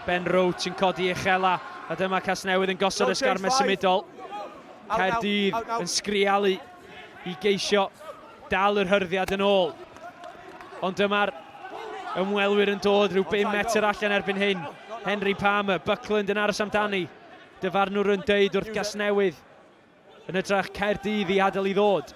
Ben Roach yn codi uchela, a dyma Casnewydd yn gosod y sgarmau symudol. Caerdydd yn sgrialu i geisio dal yr hyrddiad yn ôl. Ond dyma'r ymwelwyr yn dod rhyw 5 metr allan erbyn hyn. Henry Palmer, Buckland yn aros amdani. Dyfarnwr yn deud wrth Gasnewydd Yn hytrach, Caerdydd i adael i ddod.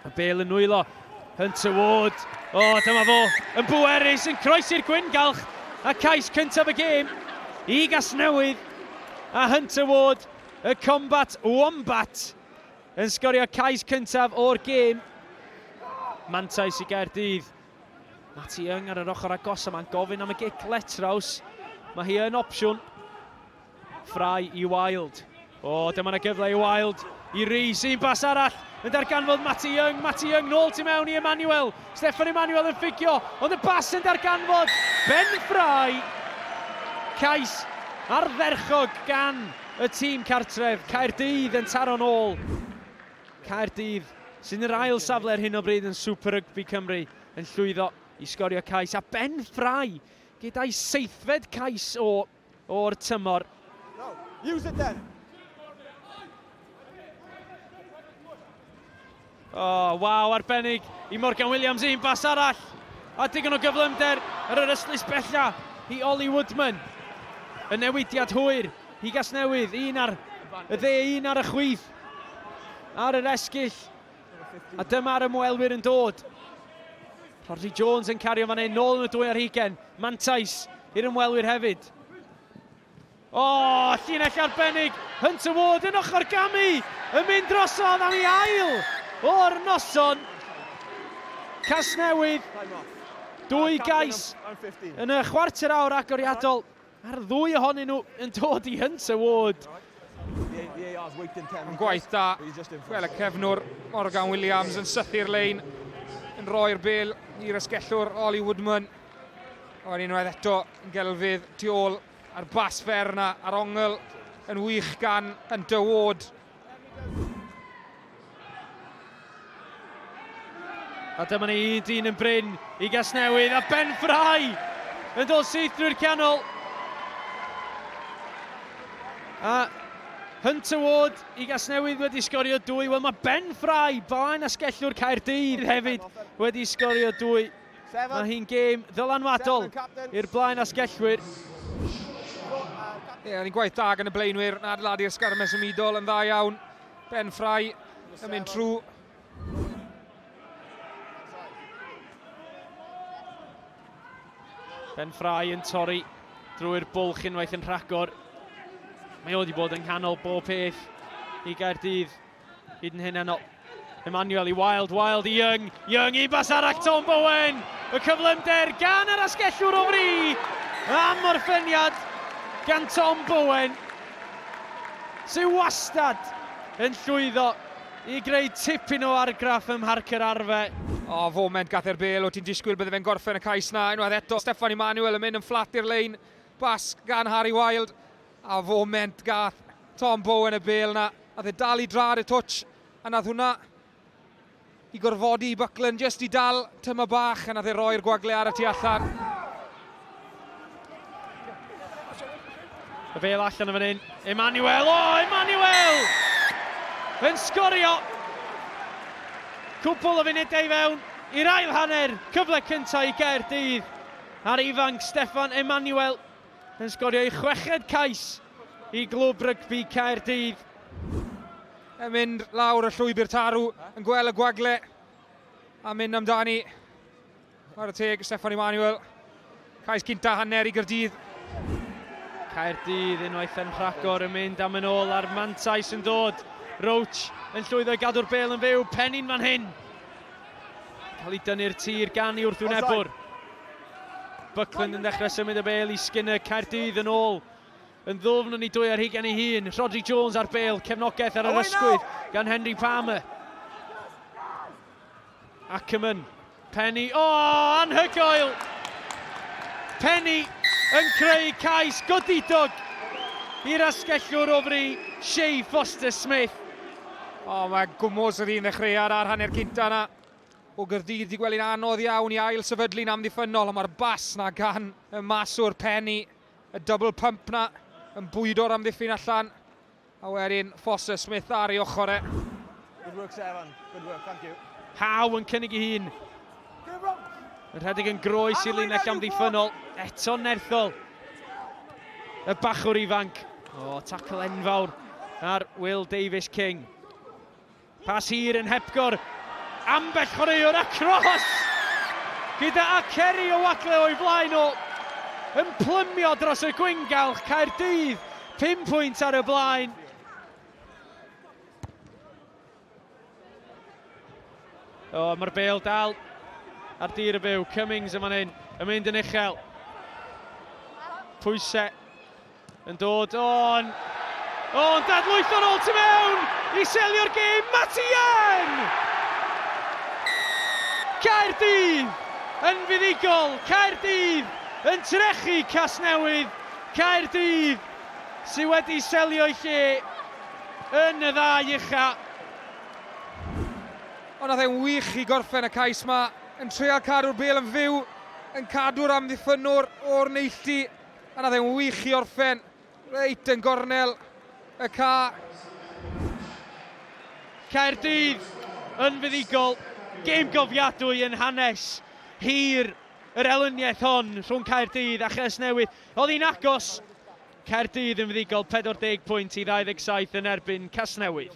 Y bel yn nwylo. Hunter Ward. O, oh, dyma fo. Yn bwerus, yn croesi'r gwyngalch. A cais cyntaf y gêm i Gasnewydd. A Hunter Ward, y combat wombat, yn sgorio cais cyntaf o'r gêm. Mantais i Gaerdydd. Mati Young ar yr ochr agos yma'n gofyn am y gic letraws. Mae hi yn opsiwn. Fry i Wilde. O, oh, dyma na gyfle i Wilde. I Rees, un bas arall. Yn darganfod Matty Young. Matty Young nôl tu mewn i Emmanuel. Steffan Emmanuel yn ffugio. Ond y bas yn darganfod. Ben Fry. Cais ardderchog gan y tîm cartref. Caerdydd yn taro'n ôl. Caerdydd sy'n yr ail safle ar hyn o bryd yn Super Rugby Cymru yn llwyddo i sgorio cais a Ben Fry gyda'i seithfed cais o o'r tymor. O, oh, waw, arbennig i Morgan Williams, un bas arall. A digon o gyflymder ar yr ystlys bella i Ollie Woodman. Y newidiad hwyr i Gasnewydd, un ar y dde, un ar y chwith. Ar yr esgyll, A dyma'r ymwelwyr yn dod. Rhodri Jones yn cario fan hyn, nôl yn y dwy ar hugen. Mantais i'r ymwelwyr hefyd. O, oh, llinell arbennig, Hunter Ward yn ochr gamu, yn mynd drosodd am ei ail o'r noson. Casnewydd, dwy gais yn y chwarter awr agoriadol. Mae'r ddwy ohonyn nhw yn dod i hynt y ward. Yn gwaith da, fel y cefnwr Morgan Williams yn sythu'r lein, yn rhoi'r bel i'r ysgellwr Ollie Woodman. O'r unwaith eto, yn gelfydd tu ôl a'r bas fer yna ar ongl yn wych gan Hunter Ward. A dyma ni i dyn yn bryn i Gasnewydd a Ben Fry yn dod syth drwy'r canol. A Hunter Ward i Gasnewydd wedi sgorio dwy. Wel mae Ben Fry, blaen asgellwr Caerdydd hefyd, wedi sgorio dwy. Mae hi'n gêm ddylanwadol i'r blaen asgellwyr. Ie, yn gwaith da gan y blaenwyr yn adeiladu'r sgarmes ymudol yn dda iawn. Ben Ffrau yn mynd trwy. Ben Ffrau yn torri drwy'r bwlch unwaith yn rhagor. Mae o wedi bod yng nghanol bob peth i Gaerdydd Hyd yn hyn enol. Emmanuel i Wild, Wild i Young, Young i bas arach Tom Bowen. Y cyflymder gan yr asgellwr o fri am orffeniad gan Tom Bowen sy'n wastad yn llwyddo i greu tipyn o argraff ym Mharc yr Arfe. O, oh, foment gath e'r bel, o ti'n disgwyl bydde fe'n gorffen y cais na, unwaith eto Steffan Emmanuel yn mynd yn fflat i'r lein, bas gan Harry Wild. A foment gath Tom Bowen y bêl yna, nath e dal i drad y twtsh, a nath hwnna i gorfodi i Buckland jyst i dal tyma bach, a nath e roi'r gwagle ar y tu allan. Y bêl allan yn fan hyn, Emmanuel, o, oh, Emmanuel! Yn sgorio! Cwpl o funudau fewn i'r ail hanner, cyfle cyntaf i Gaerdydd, a'r ifanc Steffan Emmanuel yn sgorio ei chweched cais i Glwb Rygbi Caerdydd. Yn mynd lawr y llwybr tarw, yn gweld y gwagle a mynd amdani. Mae'r teg Steffan Emmanuel. Cais cynta hanner i Gyrdydd. Caerdydd unwaith yn rhagor yn mynd am yn ôl a'r mantais yn dod. Roach yn llwyddo i gadw'r bel yn fyw, penni'n fan hyn. Cael ei dynnu'r tir gan i wrthwynebwr. Buckland yn dechrau symud y bel i Skinner, Caerdydd yn ôl yn ddwfn yn ei dwy ar hugen ei hun. Rhodri Jones ar bel, cefnogaeth ar yr ysgwydd gan Henry Palmer. Ackerman, Penny, o, oh, anhygoel! Penny yn creu cais godidog i'r asgellwr o fri, Shay Foster-Smith. O, oh, mae gwmwys yr un ddechreuad ar hanner cynta yna. O Gaerdydd di gwely'n anodd iawn i ail sefydlu'n amddiffynnol, ond mae'r bas na gan y maswr Penny, y double pump na yn bwydo'r amddiffyn allan, a wedyn Foster Smith ar ei ochr e. Good work, Sevan. Good work, thank you. Howe yn cynnig i hun. Yn rhedeg yn groes i linell amddiffynnol. Eto nerthol. Y bachwr ifanc. O, tacl enfawr ar Will Davies King. Pas hir yn hepgor ambell chwaraewr a cross gyda Akeri Owatle o'i flaen o yn plymio dros y gwyngalch, Caerdydd pum pwynt ar y blaen. O, mae'r bel dal ar dir y byw. Cummings yn fan hyn, yn mynd yn uchel. Pwysau Yn dod o'n... O'n dadlwytho'n ôl tu mewn i selio'r gêm, Matty Young! Caerdydd yn fuddugol, Caerdydd yn trechu Casnewydd, Caerdydd sydd wedi selio'i lle yn y ddau ucha. Ond nath e'n wych i gorffen y cais 'ma, yn treial cadw'r bêl yn fyw, yn cadw'r amddiffynnwr o'r neilltu. A na fe'n wych i orffen reit yn gornel y ca. Caerdydd yn fuddugol. Gêm gofiadwy yn hanes hir yr elyniaeth hon rhwng Caerdydd a Chasnewydd. Oedd hi'n agos. Caerdydd yn fuddugol, 40 pwynt i 27 yn erbyn Casnewydd.